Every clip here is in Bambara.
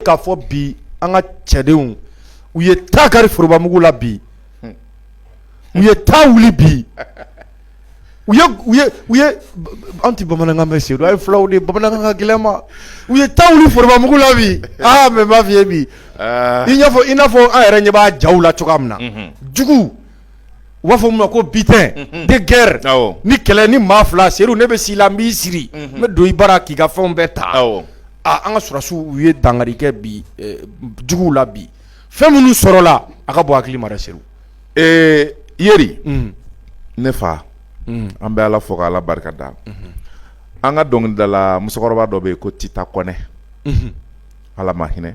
k'a fɔ bi an ka cɛdenw u ye ta kari forobamugu la bi u ye ta wuli bi u u ye an tɛ bamanankan mɛn seydou a ye fulaw de bamanankan ka gɛlɛn ma u ye ta wuli forobamugu la bi aa mais n b'a f'i ye bi i i n'a fɔ an yɛrɛ ɲɛ b'a jaw la cogoya min na jugu U b'a fɔ min ma ko butin de guerre ni kɛlɛ ni maa fila seydou ne bɛ s'i la n b'i siri n bɛ don i bara k'i ka fɛnw bɛɛ ta an ka sɔrɔsiw u ye dankari kɛ bi juguw la bi fɛn minnu sɔrɔla a ka bon hakili ma dɛ seydou ee yeri ne fa an bɛ ala fo k'ala barika da an ka dɔnkilidala musokɔrɔba dɔ bɛ yen ko tita kɔnɛ ala ma hinɛ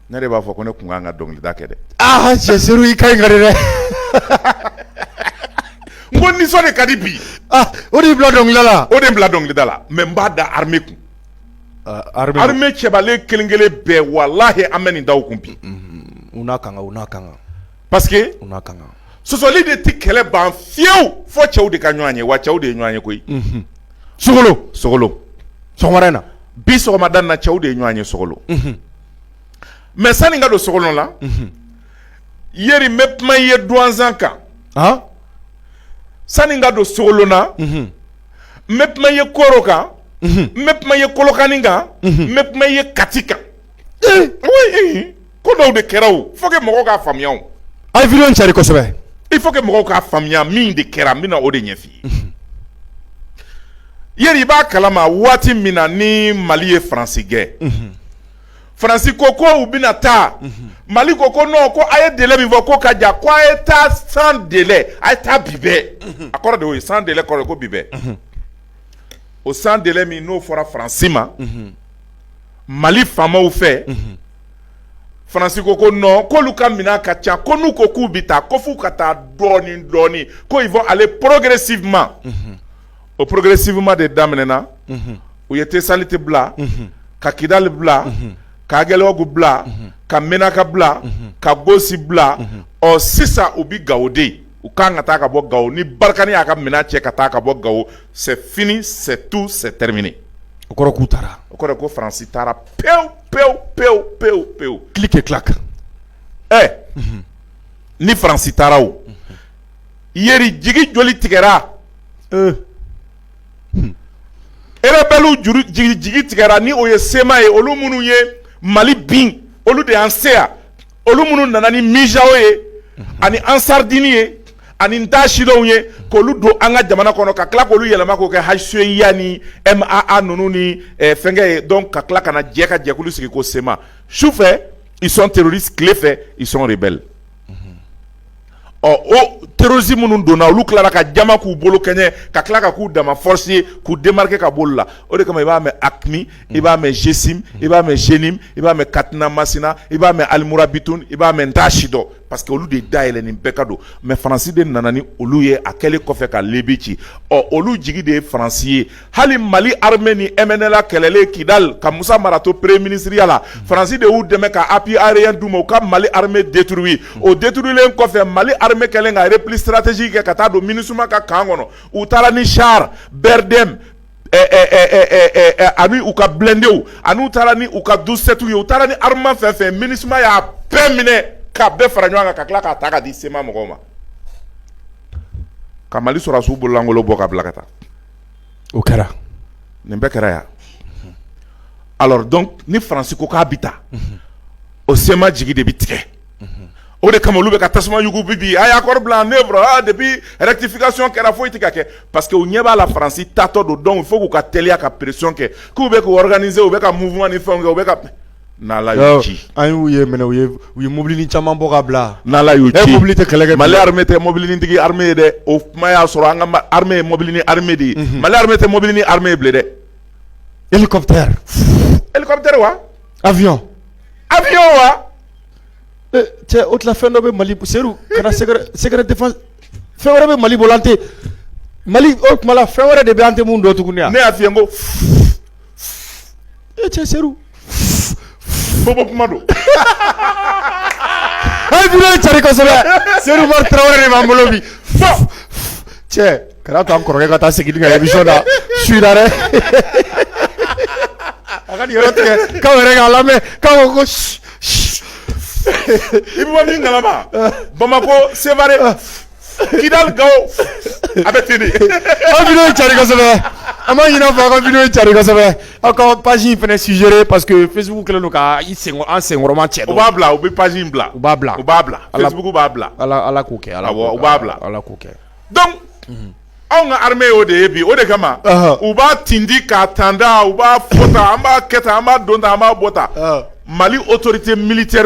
Ne de b'a fɔ ko ne tun kan ka dɔnkilida kɛ dɛ aa cɛ seydou i kan nin ka di dɛ n ko nisɔn de ka di bi o de bila dɔnkilida la o de bila dɔnkilida la mais n b'a da armée kun armée cɛbalen kelen kelen bɛɛ walahi an bɛ nin da u kun bi u n'a kan u n'a kan parce que u n'a kan sɔsɔli de tɛ kɛlɛ ban fewu fo cɛw de ka ɲɔgɔn ye wa cɛw de ye ɲɔgɔn ye koyi sogolo sogolo sɔgɔmada in na bi sɔgɔmada in na cɛw de ye ɲɔgɔn ye sogolo mais sani n ka don sogolo la yeri n bɛ kuma i ye duwanzan kan sani n ka don sogolo na n bɛ kuma i ye koro kan n bɛ kuma i ye kɔlɔkani kan n bɛ kuma i ye kati kan ko dɔw de kɛra o faut que mɔgɔw k'a faamuya o a ye vidéo cari kosɛbɛ il faut que mɔgɔw k'a faamuya min de kɛra n bɛna o de ɲɛf'i Yeri i b'a kalama waati min na ni mali ye faransi gɛn faransi ko ko u bɛna taa mali ko ko non ko a ye délai min fɔ ko ka jan ko a ye taa sans délai a ye taa bi bɛɛ a kɔrɔ de o ye sans délai kɔrɔ ko bi bɛɛ o sans délai min n'o fɔra faransi ma mali faamaw fɛ faransi ko ko non k'olu ka minɛn ka ca ko n'u ko k'u bɛ taa ko f'u ka taa dɔɔnin dɔɔnin ko ils vont aller progressivement o progressivement de daminɛna u ye tesaliti bila ka kidali bila ka agɛliyɔgu bila ka menaka bila ka gosi bila ɔ sisan u bɛ gawo de u ka kan ka taa ka bɔ gawo ni barikani y'a ka minɛn cɛ ka taa ka bɔ gawo c'est fini c'est tout c'est terminé o kɔrɔ k'u taara o kɔrɔ ko faransi taara pewu pewu pewu pewu pewu clic et clac ɛ ni faransi taara o Yeri jigi joli tigɛra rebelle jigi tigɛra ni o ye CMA ye olu minnu ye mali bin olu de y'an se yan olu minnu nana ni MUJAO ye ani Ansardine ye ani n t'a si dɔn ye k' olu don an ka jamana kɔnɔ ka tila k olu yɛlɛma k'o kɛ HCUA ni MAA ninnu ni fɛnkɛ ye donc ka tila ka na jɛ ka jɛkulu sigi ko CMA su fɛ ils sont terroristes tile fɛ ils sont rebelles ɔ o terroriste minnu donna olu tilara ka jama k'u bolo kɛɲɛ ka tila ka k'u dama force ye k'u démarquer ka b'olu la o de kama i b'a mɛn AQMI i b'a mɛn GSIM i b'a mɛn JNIM i b'a mɛn Katina Masina i b'a mɛn Al Mourabitoun i b'a mɛn n t'a si dɔn parce que olu de dayɛlɛ nin bɛɛ ka don mais Faransi de nana ni olu ye a kɛlen kɔfɛ ka Libye ci ɔ olu jigi de ye Faransi ye hali mali armée ni mnla kɛlɛlen kidal ka musa mara to premier ministriya la faransi de y'u dɛmɛ ka appui aérien d'u ma u ka mali armée détruit o détruilen kɔfɛ mali armée kɛlen ka repli stratégique kɛ ka taa don minusma ka camp kɔnɔ u taara ni char brdm ani u ka blindéw ani u taara ni u ka douze-septw ye u taara ni arme fɛn fɛn minusma y'a bɛɛ minɛ ka bɛɛ fara ɲɔgɔn kan ka tila k'a ta ka di cma mɔgɔw ma ka mali sɔrɔdasiw bololankolon bɔ ka bila ka taa o kɛra nin bɛɛ kɛra yan alors donc ni faransi ko k'a bɛ taa o cma jigi de bɛ tigɛ o de kama olu bɛ ka tasuma yugu bi bi a ye accord bila en œuvre depuis rectification kɛra foyi tɛ ka kɛ parce que u ɲɛ b'a la faransi taatɔ don donc il faut k'u ka teliya ka pression kɛ k'u bɛ k'u organiser u bɛ ka mouvement ni fɛnw kɛ u bɛ ye minɛ u u ye mobilinin caman bɔ ka bila mobili tɛ kɛlɛ kɛ mali armée tɛ mobilinintigi armée ye dɛ o kuma y'a sɔrɔ an ka armée ye mobilinin armée de ye mali armée tɛ mobilinin armée ye bilen dɛ hélicoptère hélicoptère wa avion avion wa cɛ o tila fɛn dɔ bɛ mali seku kana secret défense fɛn wɛrɛ bɛ mali bolo an tɛ mali o tuma fɛn wɛrɛ de bɛ an tɛ mun don tuguni ne y'a f'i ye ko e cɛ seku fo ko kuma don hali vidéo in cari kosɛbɛ seku umaru tarawele de b'an bolo bi fo cɛ kana to an kɔrɔkɛ ka taa segin ka emission na su in na dɛ a ka nin yɔrɔ tigɛ k'aw yɛrɛ k'a lamɛn k'aw ko ko si si i bɛ bɔ min kalama bamakɔ sevare Kidal Gao a bɛ ten de aw vidéo in cari kosɛbɛ an b'a ɲini aw fɛ aw ka vidéo in cari kosɛbɛ aw ka page in fana suggérer parce que Facebook kɛlen don ka i senkɔrɔ an senkɔrɔma cɛ dɔɔni u b'a bila u bɛ page in bila u b'a bila u b'a bila Facebook b'a bila Ala Ala k'o kɛ Ala k'o kɛ awɔ u b'a bila Ala k'o kɛ donc anw ka armée y'o de ye bi o de kama u b'a tindi k'a tanda u b'a fɔ tan an b'a kɛ tan an b'a don tan an b'a bɔ tan Mali autorité militaire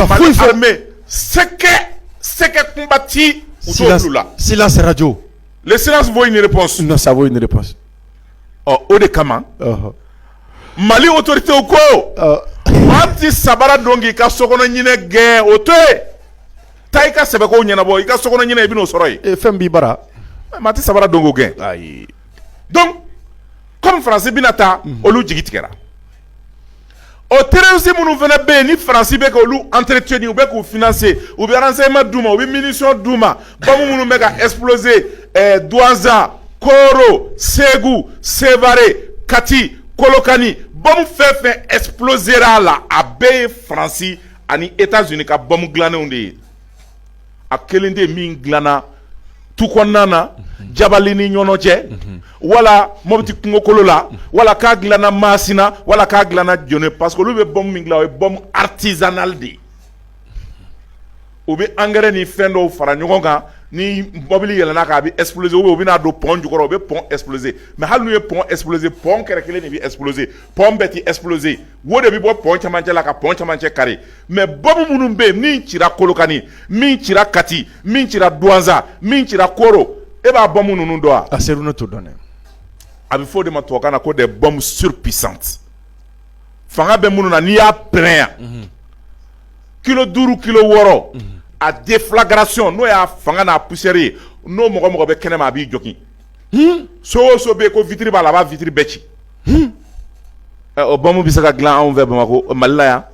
Mali armée sɛkɛ sɛkɛ kunba ti u t'o b'u la silence radio le silence vaut une réponse non ça vaut une réponse ɔ o de kama Mali autorité u ko an ti sabara don k'i ka sokɔnɔ ɲinɛ gɛn o to yen taa i ka sɛbɛ ko ɲɛnabɔ i ka sokɔnɔ ɲinɛ i bɛn'o sɔrɔ yen ee fɛn b'i bara maa ti sabara don k'o gɛn ayi donc comme faransi bɛna taa olu jigi tigɛra o terroriste minnu fana bɛ yen ni faransi bɛ ka olu entretenir u bɛ k'u financer u bɛ renseignement d'u ma u bɛ munition d'u ma bombe minnu bɛ ka exploser eh, Douanza Koro Segu Sevare Kati Kolokani bombe fɛn fɛn explosera a la a bɛɛ ye faransi ani États-Unis ka bombe dilannenw de ye a kelen tɛ min dilanna tu kɔnɔna na Jabali ni Ɲɔnɔ cɛ wala Mopti kungokolo la wala k'a dilana masina wala k'a dilana Jɛnɛ parce que olu bɛ bombe min dilan o ye bombe artisanale de ye u bɛ engrais ni fɛn dɔw fara ɲɔgɔn kan ni mɔbili yɛlɛnn'a kan a bɛ exploser u bɛn'a don pont jukɔrɔ u bɛ pont exploser mais hali n'u ye pont exploser pont kɛrɛ kelen de bɛ exploser pont bɛɛ tɛ exploser wo de bɛ bɔ pont camancɛ la ka pont camancɛ kari mais bombe minnu bɛ yen min cira kolokani min cira kati min cira duwanza min cira koro e b'a bombe ninnu dɔn wa a Seru ne t'o dɔn dɛ a bɛ fɔ o de ma tubabukan na ko des bombes surpuissantes fanga bɛ minnu na n'i y'a pɛrɛn yan mhm. kilo duuru kilo wɔɔrɔ mhm. a deflagration n'o y'a fanga n'a poussière ye n'o mɔgɔ mɔgɔ bɛ kɛnɛma a b'i jogin so o so bɛ yen ko vitre b'a la a b'a vitre bɛɛ ci o bombe bɛ se ka dilan anw fɛ bamakɔ Mali la yan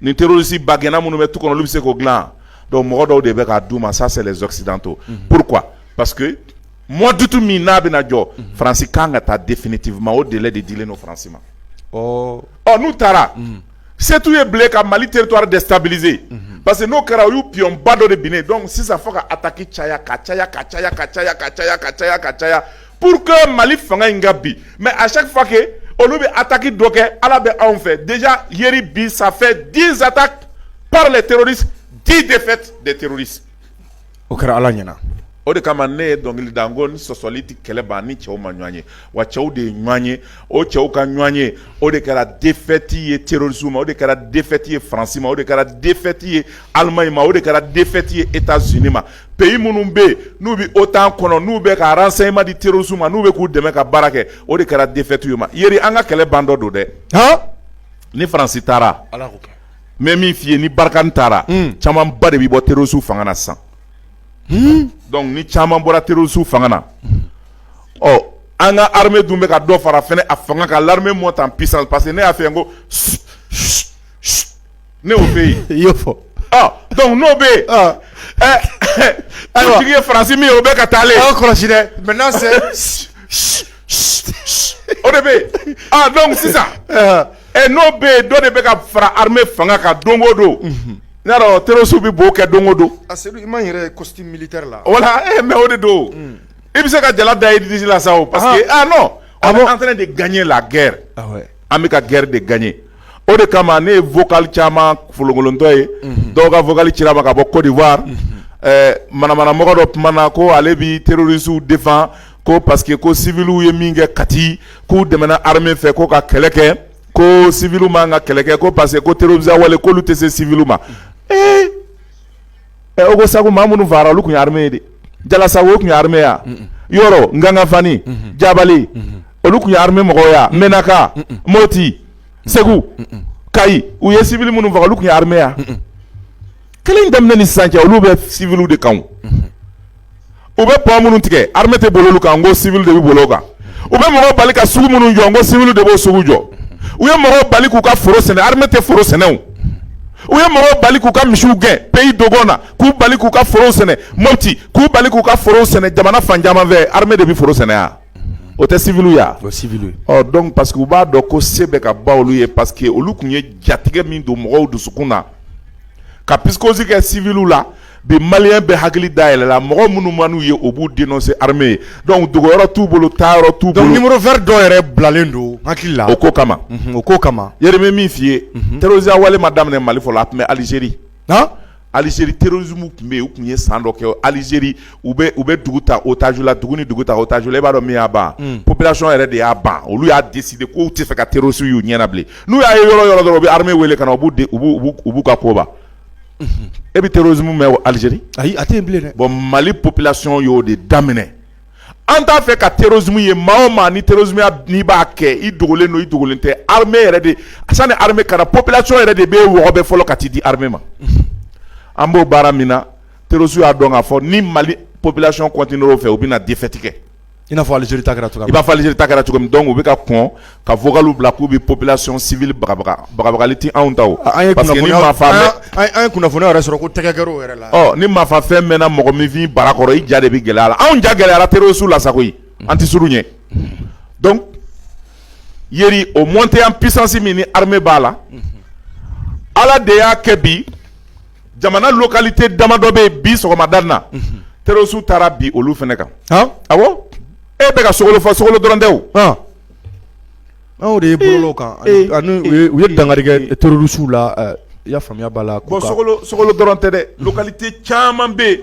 ni terroriste bagɛnna minnu bɛ tu kɔnɔ olu bɛ se k'o dilan donc mɔgɔ dɔw de bɛ k'a d'u ma ça c'est les occidentaux pourquoi parce que mois d'août min n'a bɛna jɔ faransi ka kan ka taa définitivement o délai de dilen don faransi ma ɔ n'u taara setu ye bila ka mali teri to de sase parce que n'o kɛra u y'u pba dɔ de bin dɔn sisan fo ka ta ki caya ka caya ka caya ka caya ka caya ka caya ka caya pur que mali fanga in ka bi mɛ a se fa kɛ olu bɛ a taki dɔ kɛ ala bɛ anw fɛ de yeri bi sanfɛ dizsata pa de teri di de de teri o kɛra ala ɲɛna o de kama ne ye dɔnkili da n ko ni sɔsɔli tɛ kɛlɛ ban ni cɛw ma ɲɔgɔn ye wa cɛw de ye ɲɔgɔn ye o cɛw ka ɲɔgɔn ye o de kɛra défaite ye terrorisme ma o de kɛra défaite ye faransi ma o de kɛra défaite ye alimaɲi ma o de kɛra défaite ye États-Unis ma pays minnu bɛ yen n'u bɛ otan kɔnɔ n'u bɛ ka renseignement di terrorisme ma n'u bɛ k'u dɛmɛ ka baara kɛ o de kɛra défaite ye ma yeri an ka kɛlɛ bantɔ don dɛ ni faransi taara n bɛ min f'i ye ni Barkhane taara caman ba de bɛ bɔ terroristes fanga na san donc ni caman bɔra terroristes fanga na ɔ an ka armée dun bɛ ka dɔ fara fɛnɛ a fanga kan l'armée monte en puissance parce que ne y'a fɛ yen ko ne fɛ yen i fɔ donc n'o bɛ yen ayiwa ye Faransi min ye o bɛ ka taa kɔlɔsi dɛ mɛ o de bɛ yen aa dɔn sisan ɛ n'o bɛ yen dɔ de bɛ ka fara hamɛ fanga ka don o don n'a dɔn terirosu bɛ b'o kɛ don o don a i ma yɛrɛ kɔti mili la wala e mɛ o de don i bɛ se ka jala da idisi la sa o parce que a an fana de ganɲɛ la gɛrɛ an bɛ ka gɛrɛ de ganɲɛ o de kama ne ye fɔkali caman folokolonlɔntɔ ye dɔw ka fɔkali ci ma ka bɔ kodiwa manamana mɔgɔ dɔ tumaumana na ko ale bɛ terirosu defan ko parce que ko civils ye min kɛ Kati k'u dɛmɛna armée fɛ ko ka kɛlɛ kɛ ko civils man ka kɛlɛ kɛ ko parce que ko terroristes wale k'olu tɛ se civils ma ee ɛ Ogosagu maa minnu fagara olu tun ye armée ye de Jalasagu o tun ye armée ya Yoro Ngangafani Jabali olu tun ye armée mɔgɔw ya Menaka Moti Segu Kayi u ye civils minnu faga olu tun ye armée ya kɛlɛ in daminɛ ni sisan cɛ olu bɛ civils de kan o. u bɛ pont minnu tigɛ armée tɛ boli olu kan n ko civil de bɛ boli o kan u bɛ mɔgɔ bali ka sugu minnu jɔ n ko civil de b'o sugu jɔ u ye mɔgɔ bali k'u ka foro sɛnɛ armée tɛ foro sɛnɛ o u ye mɔgɔ bali k'u ka misiw gɛn pays Dogon na k'u bali k'u ka foro sɛnɛ Moti k'u bali k'u ka foro sɛnɛ jamana fan caman fɛ armée de bɛ foro sɛnɛ ya o tɛ civil ya donc parce que u b'a dɔn ko se bɛ ka ban olu ye parce que olu tun ye jatigɛ min don mɔgɔw dusukun na ka psychose kɛ civil la bi malien bɛɛ hakili dayɛlɛla mɔgɔ minnu man'u ye o b'u dénoncer armée ye donc dogoyɔrɔ t'u bolo taayɔrɔ t'u bolo numéro vert dɔw yɛrɛ bilalen don hakili la o ko kama o ko kama yɛrɛ n bɛ min f'i ye terrorisme wale ma daminɛ Mali fɔlɔ a tun bɛ Algérie Algérie terrorisme tun bɛ yen u tun ye san dɔ kɛ Algérie u bɛ dugu ta otage la dugu ni dugu ta otage la i b'a dɔn min y'a ban population yɛrɛ de y'a ban olu y'a décider k'u t'a fɛ ka terroriste y'u ɲɛ na bilen n'u y'a ye yɔrɔ yɔrɔ dɔrɔn u bɛ armée wele ka na u b'u ka ko ban e bɛ terrorisme mɛn Algérie ayi a tɛ yen bilen dɛ bon Mali population y'o de daminɛ an t'a fɛ ka terrorisme ye maa o maa ni terrorisme ya n'i b'a kɛ i dogolen don i dogolen tɛ armée yɛrɛ de sani armée ka na population yɛrɛ de b'e wɔgɔbɛ fɔlɔ ka t'i di armée ma an b'o baara min na terroristes y'a dɔn k'a fɔ ni Mali population continuera o fɛ u bɛna défaite kɛ I n'a fɔ Algérie ta kɛra cogoya min na, i n'a fɔ Algérie ta kɛra cogo min donc u bɛ ka kɔn ka vocal bila k'u bɛ population civile bagabaga, bagabagali tɛ anw ta o, an ye kunnafoniyaw yɛrɛ sɔrɔ ko tɛgɛ kɛra u yɛrɛ la, ɔ ni maa faa fɛn mɛɛna mɔgɔninfin bara kɔrɔ i ja de bɛ gɛlɛya a la, anw ja gɛlɛyara terroristes la sa koyi an tɛ siran u ɲɛ donc yeri o montée en puissance min ni armée b'a la Ala de y'a kɛ bi jamana localité damadɔ bɛ yen bi sɔgɔmada na terroristes taara bin olu fana kan awɔ e bɛ ka sokolo fɔ sokolo dɔrɔn tɛ o anw de ye bolo kan ani u ye dankari kɛ terroristes la i y'a faamuya b'a la bon sokolo dɔrɔn tɛ dɛ localité caman bɛ yen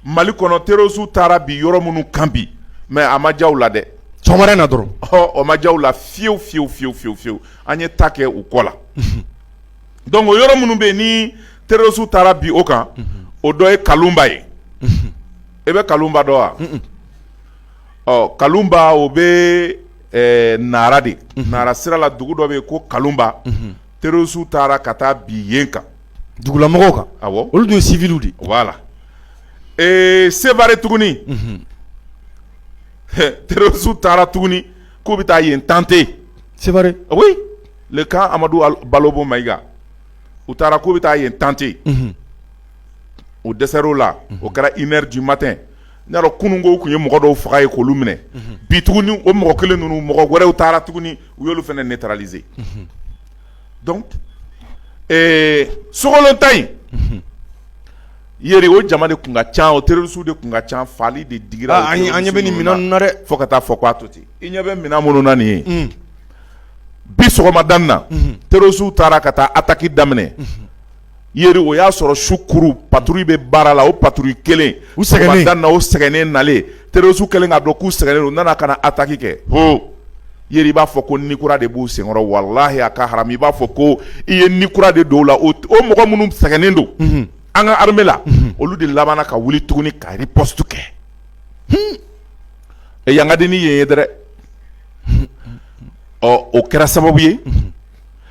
mali kɔnɔ terroristes taara bin yɔrɔ minnu kan bi mais a ma diya u la dɛ sɔgɔmada na dɔrɔn o ma diya u la fiyewu fiyewu fiyewu fiyewu fiyewu an ye ta kɛ u kɔ la donc o yɔrɔ minnu bɛ yen ni terroriste taara bin o kan, unhun, o dɔ ye Kalunba ye, unhun, e bɛ Kalunba dɔn wa? Un un, ɔ Kalunba o bɛ ɛɛ Nara de, unhun, Nara sira la dugu dɔ bɛ yen ko Kalunba, unhun, terroriste taara ka taa bin yen kan, dugulamɔgɔw kan, awɔ, olu dun ye civils de ye, voilà ee Sévaré tuguni, unhun, terroriste taara tuguni k'u bɛ taa yen tenter sévaré le camp amadou balobo maïga u taara k'u bɛ taa yen tenter o dɛsɛra o la o kɛra une heure du matin n y'a dɔn kununkɔ u tun ye mɔgɔ dɔw faga yen k'olu minɛ bi tuguni o mɔgɔ kelen ninnu mɔgɔ wɛrɛw taara tuguni u y'olu fana neutraliser donc sokolo ta in yeri o jama de tun ka ca o terroristes de tun ka ca faali de digira an ɲɛ bɛ ni minɛn ninnu na dɛ fo ka taa fɔ ko a to ten i ɲɛ bɛ minɛn minnu na nin ye bi sɔgɔmada in na terroristes taara ka taa attaque daminɛ yeri o y'a sɔrɔ su kuru patrouille bɛ baara la o patrouille kɛlen u sɛgɛn dan na o sɛgɛnnen nalen terroristes kɛlen k'a dɔn k'u sɛgɛnnen don u nana ka na attaque kɛ hɔn yeri i b'a fɔ ko ni kura de b'u senkɔrɔ walahi a ka haramu i b'a fɔ ko i ye ni kura de don u la o mɔgɔ minnu sɛgɛnnen don an ka armée la olu de labanna ka wuli tuguni ka riposte kɛ ɛ yan ka di ni yen ye dɛrɛ ɔ o kɛra sababu ye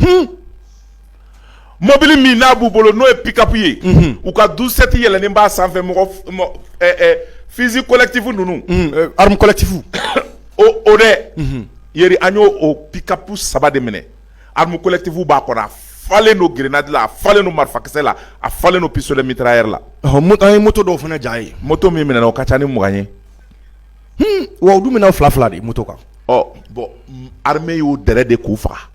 hun mobili min n'a b'u bolo n'o ye pick-up ye unhun u ka douze-sept yɛlɛnen b'a sanfɛ mɔgɔ f mɔ ɛ ɛ fusil collectif ninnu unhun ɛ arme collectif o o dɛ unhun yeri an y'o o pick-up 3 de minɛ arme collectif b'a kɔnɔ a falen don grenade la a falen don marifakisɛ la a falen don pistolet mitrailleur la ɔhɔ mot an ye moto dɔw fɛnɛ ja ye moto min minɛna o ka ca ni 20 ye wa u dun bɛ na fila fila de moto kan bon armée y'u dɛrɛ de k'u faga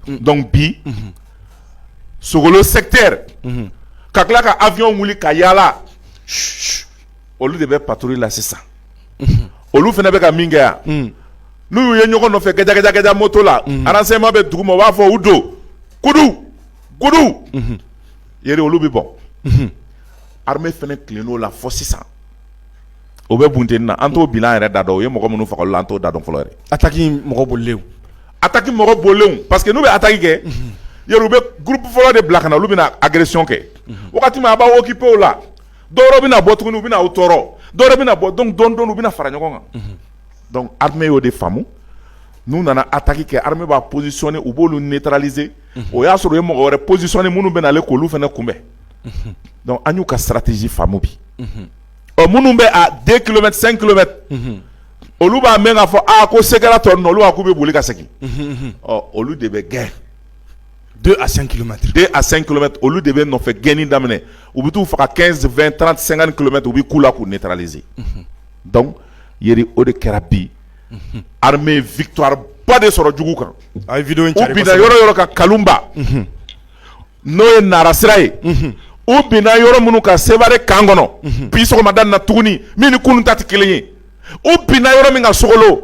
donc bi sogolo secteur ka tila ka avion wuli ka yaala olu de bɛ patrouille la sisan olu fana bɛ ka min kɛ yan n'u ye ɲɔgɔn nɔfɛ gajajajɛ moto la renseignement bɛ dugu ma u b'a fɔ u don kudu kudu yeri olu bɛ bɔ armée fana tilenn'o la fo sisan o bɛ bunten na an t'o bilan yɛrɛ da dɔn o ye mɔgɔ minnu faga la an t'o da dɔn fɔlɔ ataki mɔgɔ bolilenw ataki mɔgɔ bolilenw parce que n'u bɛ ataki kɛ yɛrɛ u bɛ groupe fɔlɔ de bila ka na olu bɛna agression kɛ waati min a b'aw occuper o la dɔwɛrɛ bɛna bɔ tuguni u bɛna tɔɔrɔ dɔwɛrɛ bɛna bɔ donc dɔɔni dɔɔni u bɛna fara ɲɔgɔn kan donc armée y'o de faamu n'u nana ataki kɛ armée b'a positionner u b'olu neutraliser o y'a sɔrɔ ye mɔgɔ wɛrɛ psisɔnni minnu bɛ ale kulu fana kunbɛn an y'u ka saratisi faamu bi ɔ minnu bɛ den kulobɛ sen kulobɛ olu b'a mɛn k'a fɔ a ko se kɛra tɔ olu k'u bɛ boli ka segin ɔ olu de bɛ gɛn don a sen kima den a sen kima olu de bɛ nɔfɛ gɛnni daminɛ u bɛ taa faga kɛfɛn tan senkan kulomɛ u bɛ' la k'u ne taaralize ye o de kɛra bi victoire ba de sɔrɔ jugu kan a ye u binna yɔrɔ yɔrɔ kan kalumba n'o ye nara sira ye u binna yɔrɔ minnu kan sevare camp kɔnɔ bi sɔgɔmada na tuguni min ni kunun ta tɛ kelen ye u binna yɔrɔ min kan sogolo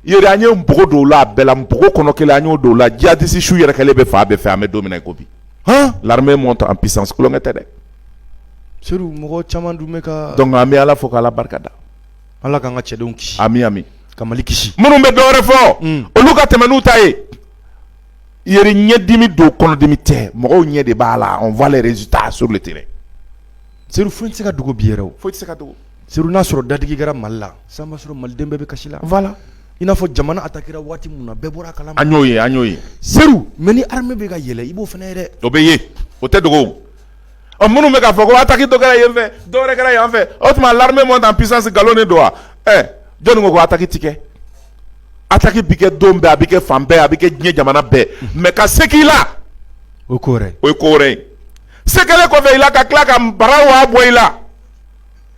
yeri an ye npogo don o la a bɛɛ la npogo kɔnɔ kelen an y'o don o la jihadiste su yɛrɛkɛlen bɛ fan bɛɛ fɛ an bɛ don min na i ko bi l'armée monte en puissance tulonkɛ tɛ dɛ seydou mɔgɔ caman dun donc an bɛ ala fo k'ala barika da Ala k'an ka cɛdenw kisi ami ami ka mali kisi minnu bɛ dɔwɛrɛ fɔ olu ka tɛmɛ n'u ta ye yeri ɲɛdimi don kɔnɔdimi tɛ mɔgɔw ɲɛ de b'a la on voit les résultats sur le terrain seydou foyi tɛ se ka dogo bi yɛrɛ foyi tɛ se ka dogo seydou n'a sɔrɔ dadigi kɛra mali la sisan b'a sɔrɔ maliden bɛɛ bɛ kasi la voilà i n'a fɔ jamana atakira waati min na bɛɛ bɔra a kalama an y'o ye an y'o ye seydou mais ni armée bɛ ka yɛlɛ i b'o fana ye dɛ o bɛ ye o tɛ dogo ɔ minnu bɛ k'a fɔ ko ataki dɔ kɛra yen fɛ dɔ wɛrɛ kɛra yan fɛ o tuma l'armée monte en puissance nkalon de don wa ɛ jɔni ko ko ataki ti kɛ ataki bi kɛ don bɛɛ a bi kɛ fan bɛɛ a bi kɛ diɲɛ jamana bɛɛ mais ka se k'i la o ye ko wɛrɛ ye o ye ko wɛrɛ ye se kɛlen kɔfɛ i la ka tila ka bara wa bɔ i la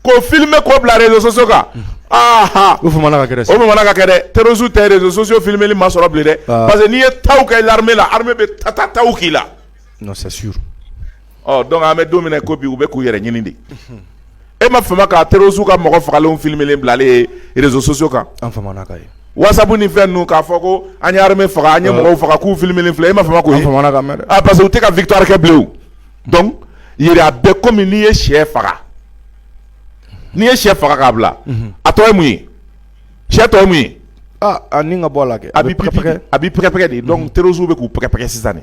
k'o filmer k'o bila réseaux sociaux kan aha o famana ka kɛ dɛ o famana ka kɛ dɛ terroriste tɛ réseaux sociaux filmeli masɔrɔ bilen dɛ parce que n'i ye taw kɛ l'armée la armée bɛ ta ta taw k'i la non c'est sûr ɔ donc an bɛ don min na ko bi u bɛ k'u yɛrɛ ɲini de e ma fama ka terroristes ka mɔgɔ fagalenw filmelen bilalen ye réseaux sociaux kan an famana ka ye whatsapp ni fɛn ninnu k'a fɔ ko an ye armée faga an ye mɔgɔw faga k'u filmelen filɛ e ma fama k'o ye famana ka mɛn dɛ ah parce que u tɛ ka victoire kɛ bilen o donc yɛrɛ a bɛɛ komi n'i ye sɛ faga n'i ye sɛ faga k'a bila a tɔ ye mun ye sɛ tɔ ye mun ye ah a ni ka bɔ a la kɛ a bɛ pɛkɛ-pɛkɛ a bɛ pɛkɛ-pɛkɛ de donc terroristes bɛ k'u pɛkɛ-pɛkɛ sisan de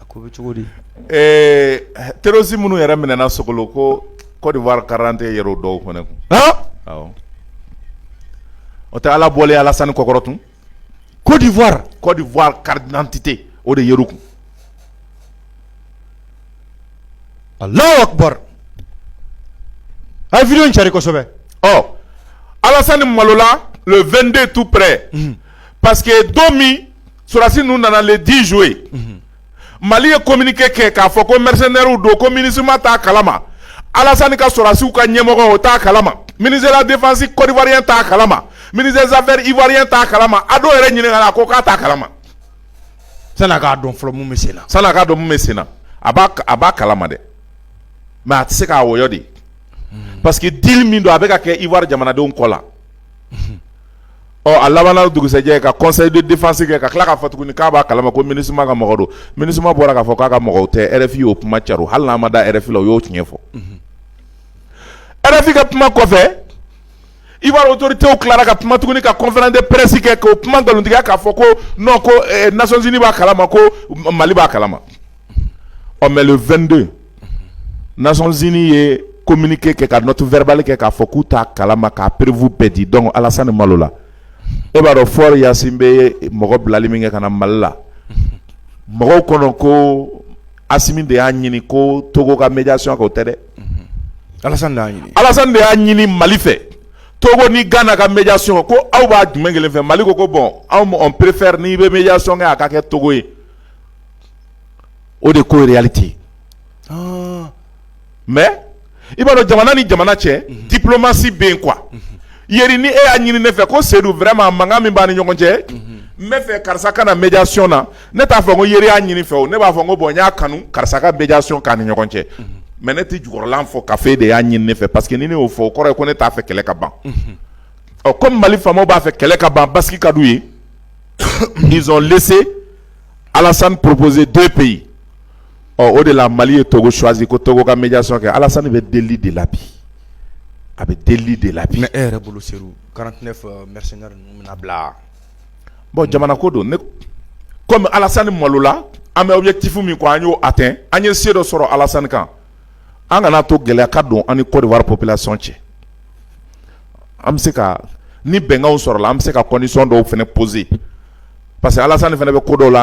A ko bɛ cogo di ɛɛ terirosi minnu yɛrɛ minɛna so ko kɔ de wari garante yɛrɛ dɔw kɔnɔ kun o tɛ ala bɔlen alasan ni kɔkɔrɔ tun kodiwa kɔdiwa karidtete o de yɛrɛ kun a lawa a vri cari kosɛbɛ ɔ alasan ni malola 2den tu pɛ pa que don min sɔrɔdasi ninnu nana le 10 juillet unhun, Mali ye communiqué kɛ k'a fɔ ko mercenaires don ko Minusma t'a kalama, Alasani ka sɔrɔdasiw ka ɲɛmɔgɔ o t'a kalama, ministre de la défense Côte d'Ivoirien t'a kalama, ministre des affaires Ivoirien t'a kalama, Ado yɛrɛ ɲininkala a ko k'a t'a kalama, sani a k'a dɔn fɔlɔ min bɛ sen na, sani a k'a dɔn min bɛ sen na, a b'a a b'a kalama dɛ mais a tɛ se ka wɔyɔ de parce que deal min don a bɛ ka kɛ Ivoire jamanadenw kɔ la. ɔ a labanna dugusɛjɛ ka conseil de défense kɛ ka tila k'a fɔ tuguni k'a b'a kalama ko minusma ka mɔgɔ don minusma bɔra k'a fɔ k'a ka mɔgɔw tɛ rfi y'o kuma cari o hali n'a ma da rfi la o y'o tiɲɛ fɔ rfi ka kuma kɔfɛ ivoire autorités tilara ka kuma tuguni ka conférence de presse kɛ k'o kuma nkalontigiya k'a fɔ ko non ko eh, nations unies b'a kalama ko mali b'a kalama ɔ mais le 22 Nations unies ye communiqué kɛ ka note verbale kɛ k'a fɔ k'u t'a kalama k'a preuve bɛɛ di donc Alasani malola e b'a dɔn Faure Gnassingbé ye mɔgɔ bilali min kɛ ka na Mali la mɔgɔw kɔnɔ ko Assimi de y'a ɲini ko Togo ka médiation kɛ o tɛ dɛ Alasani de y'a ɲini Alasani de y'a ɲini Mali fɛ Togo ni Gana ka médiation kɛ ko aw b'a jumɛn kelen fɛ Mali ko ko bon anw on préfère n'i bɛ médiation kɛ a ka kɛ Togo ye o de ko tɛ mais i b'a dɔn jamana ni jamana cɛ diplomatie bɛ yen quoi yeri ni e y'a ɲini ne fɛ ko sedu vraiment mankan min b'an ni ɲɔgɔn cɛ n b'a fɛ karisa ka na médiation na ne t'a fɔ ko yeri y'a ɲini n fɛ o ne b'a fɔ ko bon n y'a kanu karisa ka médiation k'an ni ɲɔgɔn cɛ mais ne tɛ jukɔrɔla fɔ k'a fɔ e de y'a ɲini ne fɛ parce que ni ne y'o fɔ o kɔrɔ ye ko ne t'a fɛ kɛlɛ ka ban or que mali faamaw b'a fɛ kɛlɛ ka ban basigi ka d'u ye ils ont laissé alasan proposé deux pays ɔ o de la mali ye togo choisi ko togo ka médiation kɛ alasan bɛ deli de la bi a bɛ deli de la bi e yɛrɛ bolo seydou quarante-neuf mercenaires ninnu bɛna bila bon jamana ko don ne kɔmi alasan malola an bɛ objectif min ko an y'o atteint an ye se dɔ sɔrɔ alasan kan an kana to gɛlɛya ka don an ni côte d'ivoire population cɛ an bɛ se ka ni bɛnkanw sɔrɔla an bɛ se ka condition dɔw fana poser parce que alasan fana bɛ ko dɔw la